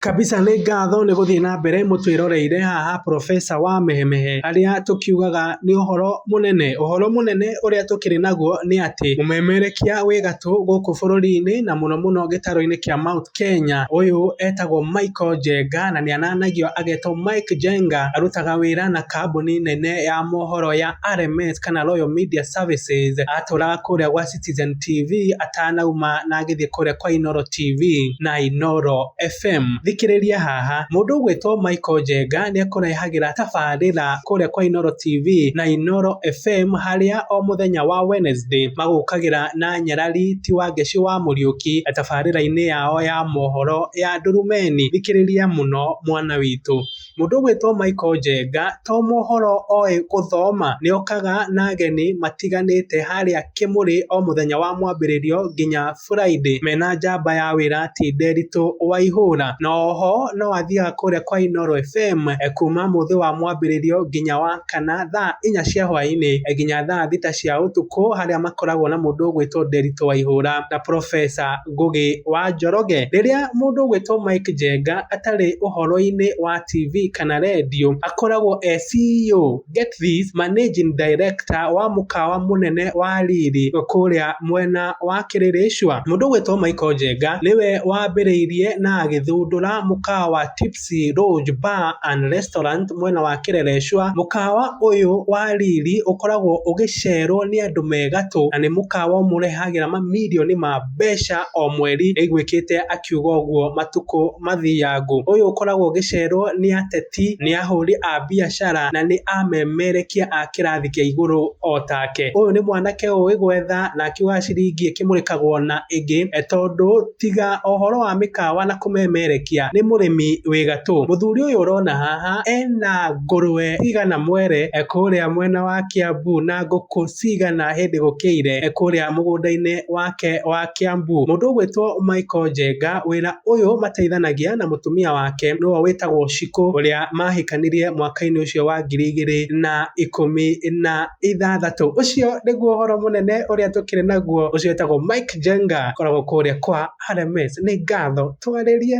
Kabisa nĩ ngatho nĩ gũthiĩ na mbere mũtwĩroreire haha Profesa wa Mehemehe. Harĩa tũkiugaga nĩ ũhoro mũnene. Ũhoro mũnene ũrĩa tũkĩrĩ naguo nĩ atĩ mũmemerekia wĩ gatũ gũkũ bũrũri-inĩ na mũno mũno gĩtarũ-inĩ kĩa Mount Kenya. Ũyũ etagwo Michael Njenga na nĩ ananagio agetwo Mike Njenga. Arutaga wĩra na kambuni nene ya mohoro ya RMS kana Royal Media Services. Atũraga kũrĩa gwa Citizen TV atanauma na agĩthiĩ kũrĩa kwa Inoro TV na Inoro FM. Thikĩrĩria haha, mũndũ ũgwĩtwo Michael Njenga nĩ ekũrehagĩra tabarĩra kũrĩa kwa Inoro TV na Inoro FM harĩa o mũthenya wa Wednesday magũkagĩra na nyarari ti wa ngeci wa Mũriũki tabarĩra-inĩ yao ya mohoro ya Ndurumeni. Thikĩrĩria mũno mwana witũ. Mũndũ ũgwĩtwo Michael Njenga to mohoro oĩ gũthoma, nĩokaga na ageni matiganĩte harĩa Kĩmũrĩ o mũthenya wa mwambĩrĩrio nginya Friday mena njamba ya wĩra ti Nderitũ Waihũra. Na oho no athiaga kũrĩa kwa Inooro FM kuma mũthĩ wa mwambĩrĩrio nginya wa kana thaa inya cia hwaĩ-inĩ nginya thaa thita cia ũtukũ harĩa makoragwo na mũndũ ũgwĩtwo Nderitũ Waihũra na Professor. Ngũgĩ wa Njoroge. Rĩrĩa mũndũ ũgwĩtwo Mike Njenga atarĩ ũhoro-inĩ wa TV kana rendio, akoragwo e CEO, get this, managing director, wa mũkawa mũnene wa riri kũrĩa mwena wa Kĩrĩrĩcũa. Mũndũ ũgwĩtwo Michael Njenga nĩwe wambĩrĩirie na agĩthundũra mũkawa wa Tips. Mati Lodge Bar and Restaurant mwena wa Kĩrerecua. Mũkawa ũyũ wa riri ũkoragwo ũgĩcerwo nĩ andũ me gatũ na nĩ mũkawa ũmũrehagĩra mamirioni ma mbeca o mweri, nĩaiguĩkĩte akiuga ũguo matukũ mathiangu. Ũyũ ũkoragwo ũgĩcerwo nĩ ateti, nĩ ahũri a biacara na nĩ amemerekia a kĩrathi kĩa igũrũ o take. Ũyũ nĩ mwanake ũĩ gwetha na akiugaga ciringi ĩkĩmũrĩkagwo na ĩngĩ tondũ Tiga ũhoro wa mĩkawa na kũmemerekia nĩ mũrĩmi wĩ gatũ. Mũthuri ũyũ ũrona haha ena ngũrũwe cigana mwere kũrĩa mwena wa Kĩambu na ngũkũ cigana hĩndĩ gũkĩire kũrĩa mũgũnda-inĩ wake wa Kĩambu. Mũndũ ũgwĩtwo Michael Njenga wĩra ũyũ mateithanagia na mũtumia wake nĩwe wĩtagwo Shiko ũrĩa mahĩkanirie mwaka-inĩ ũcio wa ngiri igĩrĩ na ikũmi na... ithathatũ. Ũcio nĩguo ũhoro mũnene ũrĩa tũkĩrĩ naguo. Ũcio wĩtagwo Mike Jenga, koragwo kũrĩa kwa RMS. Nĩ ngatho. Twarĩrie.